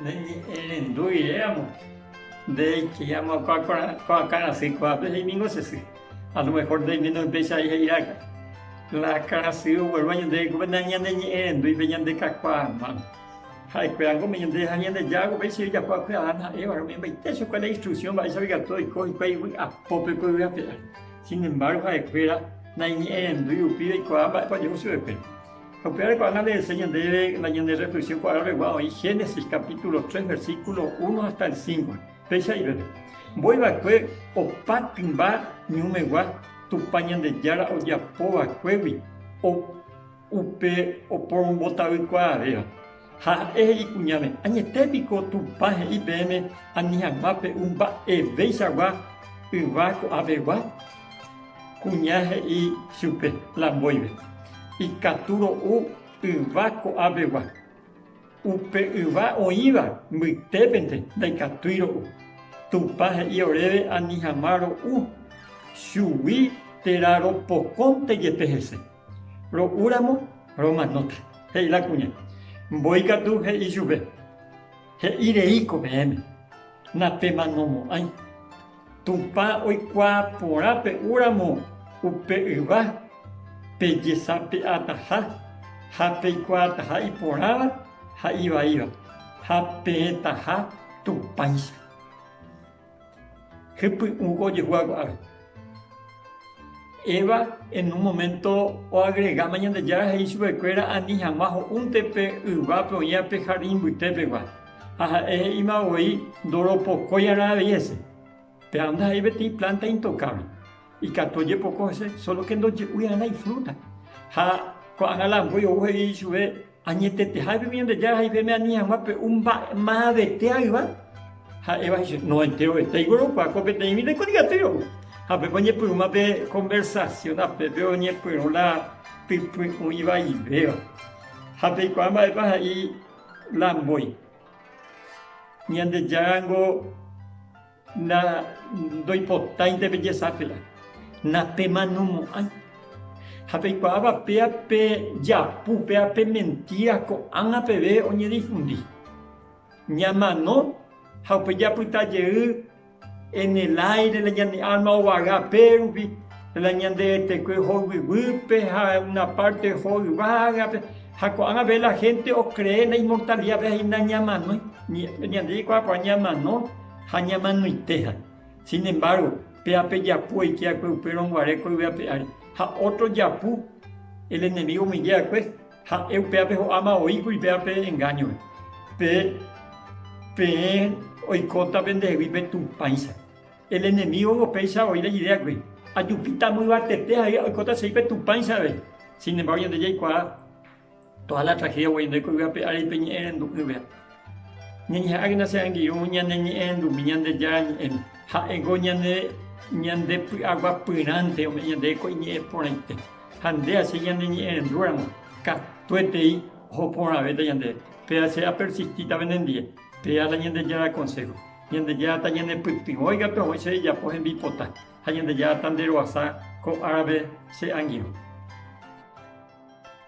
Neñe'ẽrendu iréamo, ndéicha amoakã kuaakarasy kuaape heimíngo che sy, a lo mejor ndoiméne upéicha ai he'iráka, la karasy ogueru añete rekove nañaneñe'ẽrendúi pe ñande kakuaa mano, ha'ekuéra ngo omeño nde ha Ñandejára upéicha ojapo hague Adán ha Eva-re ome'ẽmbaite chupe la instrucción mba'éichapekatu oiko hikuái vy'apópe ko yvy ape ári. Sin embárgo ha'ekuéra naiñe'ẽrendúi upíva ikuaa mba'épa ojehu chupekuéra. Ha upéva rekuaa nandehese ñandéve la ñanderreflexión kuaaroregua oĩ Génesis capítulo tres, versículo uno hasta el cinco. Péicha iveve, mboyva'ekue opa tymba ñumegua Tupã Ñandejára ojapova'ekuégui upe oporombotavy kuaavéva. Ha ha'e he'i kuñáme, Añete piko Tupã he'i peẽme ani hag̃ua pe'u mba'eveichagua yva ko'ãpegua? Kuña he'i chupe la mboyve, Ikatu ro'u yva ko'ãpegua. Upe yva oĩva mbytépente ndaikatúi ro'u. Tupã he'i oréve ani hag̃ua ro'u chugui térã ropokõnte jepe hese. Ro'úramo romanóta, he'i la kuña. Mbói katu he'i chupe, He'i rei ko peẽme, napemanomo'ãi. Tupã oikuaa porã pe'úramo upe yva, pejesape'ataha ha peikuaataha iporãva ha ivaíva, ha peẽtaha Tupãicha. Hypy'ũ ko ojehúva ko'águi. Eva en un momento oagregáma Ñandejára he'i chupekuéra ani hag̃ua ho'únte pe yvápe oĩva pe jardín mbytépegua. Ha ha'e he'íma voi ndoropokóiarã avei hese. Péva ndaha'éi peteĩ plánta intokable. Ikatu ojepoko hese sólo ke ndoje'úiarã ifrúta. Ha ko'ág̃a la ambói ou he'i chupe. Añeteteha epe Ñandejára ha ipeme ani hag̃ua pe'u mba'e mavete ayva, ha'éva he'i chéve, no enterovete aiguerokuaa ko peteĩ vida ikodiatýre ou. Ha upépe oñepyrũma pe konversasión apépe oñepyrũ la typy oĩ vaivéva. Ha peikuaa mba'épa he'i la mbói, Ñandejára ningo. Na ndoipotáinte pejesaky'a, na pemanomo'ãi. Ha peikuaáva péa pe japu, péa pe mentíra ko'ág̃a peve oñedifundi. Ñamano ha upe japyta jey en el áire la ñane árma ovaga pérupi, la ñande etekue hoyvyguýpe ha una párte oho yvágape. Ha ko'ág̃a peve la hénte okree la inmortalidápe ha iñamanói. Ñande jaikuaa porã ñamano. Ha ñamanoitéha. Sin embargo, pe ape japu oike akue upe rõnguare koygue ape ári, ha otro japu el enemigo omoinge akue, ha'e upe ape ho'áma oíkuri pe ape engaño-re. Pe, peẽ oikóta pendehegui pe tupãicha. El enemígogo péicha oĩ la idea akue, ajupíta amyvatete ha oikóta che ri pe tupãicha avei. Sin embargo, ñande jaikuaa. Toha la tragedia guai ndaiko yva pe ári pe ñe'ẽ rendu'ỹve. Ñañeha'ãkena che angirũ ñane ñe'ẽrendumi Ñandejára ñe'ẽme. Ha'éngo ñande ñande py'aguapyrãnte ome'ẽ ñandéve ko iñe'ẽ porãite. Ha nde ache ñane ñe'ẽrendúramo, katuetei oho porãvéta ñandéve. Péva che apersistíta penendie, péva la Ñandejára konsého. Ñandejára tañanepytyvõi katu ahoy che rejapo hembipota, ha Ñandejára tanderoasa ko árape che angirũ.